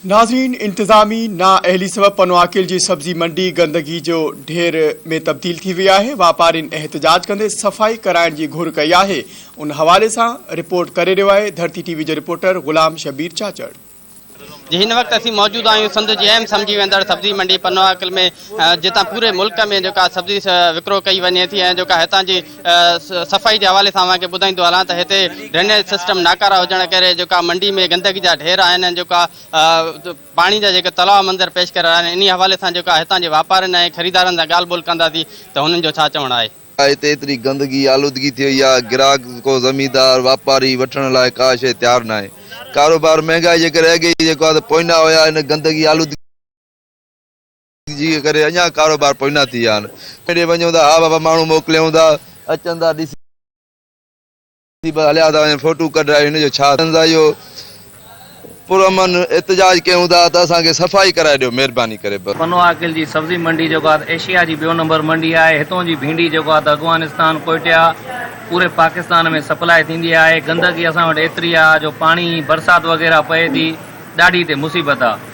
ناظرين انتظامي نااهلي سبب پنواڪيل جي سبزي منڊي گندگي جو ڍير ۾ تبديل ٿي وئي آهي واپارين احتجاج ڪندي صفائي ڪرائڻ جي گهر ڪئي آهي ان حوالي سان رپورٽ ڪري رهيو آهي ڌرتي ٽي وي جو رپورٽر غلام شبير چاچڙ. جي هن وقت اسين موجود آهيون سنڌ جي اهم سمجهي ويندڙ سبزي منڊي پنواڪل ۾ جتان پوري ملڪ ۾ جيڪا سبزي وڪرو ڪئي وڃي ٿي ۽ جيڪا هتان جي صفائي جي حوالي سان اوهان کي ٻڌائيندو هلان ته هتي ڊرينيج سسٽم ناڪارا هجڻ ڪري جيڪا منڊي ۾ گندگي جا ڍير آهن ۽ جيڪا پاڻي جا جيڪا تلاء منظر پيش ڪري رهيا آهن انهي حوالي سان جيڪا هتان جي واپارين ۽ خريدارن سان ڳالهه ٻولهه ڪنداسين ته هنن جو ڇا چوڻ آهي. ڇا هتي ايتري گندگي آلودگي ٿي وئي آهي گراهڪ ڪو زميندار واپاري وٺڻ لاء ڪا شيء تيار ناهي ڪاروبار مهنگائي جي ڪري اڳي ئي جيڪو آهي ته پوئنا هيا هن گندگي آلودگي جي ڪري اڃا ڪاروبار پوئنا ٿي ويا آهن ڪيڏي وڃون ٿا ها بابا ماڻهو موڪليون ٿا اچن ٿا ڏسي بس هليا ٿا وڃن فوٽو ڪڍرائي هن جو ڇا ٿين ٿا اهو پرامن احتجاج ڪيون ٿا ته اسان کي صفائي ڪرائي ڏيو مهرباني ڪري بس. پنو عاقل جي سبزي منڊي جيڪو آهي ته ايشيا جي ٻيو نمبر منڊي آهي هتون جي ڀينڊي جيڪو آهي ته اگوانستان ڪوئٽيا پوري پاڪستان ۾ سپلاء ٿيندي آهي گندگي اسان وٽ ايتري آهي جو پاڻي برسات وغيره پئي ٿي ڏاڍي هتي مصيبت آهي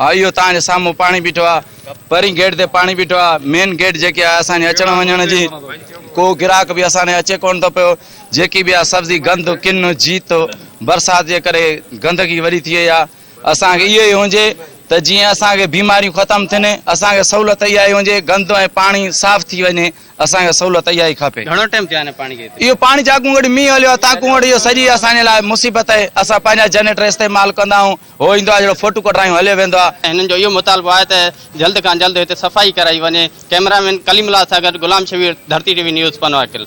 ها اهو توهان جي سامهون پاڻي بيٺو آ پهرين گيٽ تي پاڻي بيٺو آ مين گيٽ جيڪي آ اسان جي اچڻ وڃڻ جي ڪو گراهڪ به اسان ڏي اچي ڪونه ٿو پيو جيڪي به آ سبزي گند ڪن جيت برسات جي ڪري گندگي وڏي ٿي وئي آ اسان کي اهو ئي هجي ته جيئن اسان کي بيماريون ختم ٿين اسان کي سهولت اها ئي هجي گند ۽ پاڻي صاف ٿي وڃي اسان کي سهولت اها ئي کپي گهڻو ٽائيم ٿيو آهي پاڻي کي اهو پاڻي جاکونگڙي مينهن هليو آ تاکونگڙي جو سڄي اسان جي لاء مصيبت آهي اسان پنهنجا جنريٽر استعمال ڪندا آهيون هو ايندو آهي جهڙو فوٽو ڪڍرايون هليو ويندو آهي. هنن جو اهو مطالبو آهي ته جلد کان جلد هتي صفائي ڪرائي وڃي، ڪئميرا مين ڪليم الله سان گڏ غلام شبير، ڌرتي ٽي وي نيوز، پنواڪل.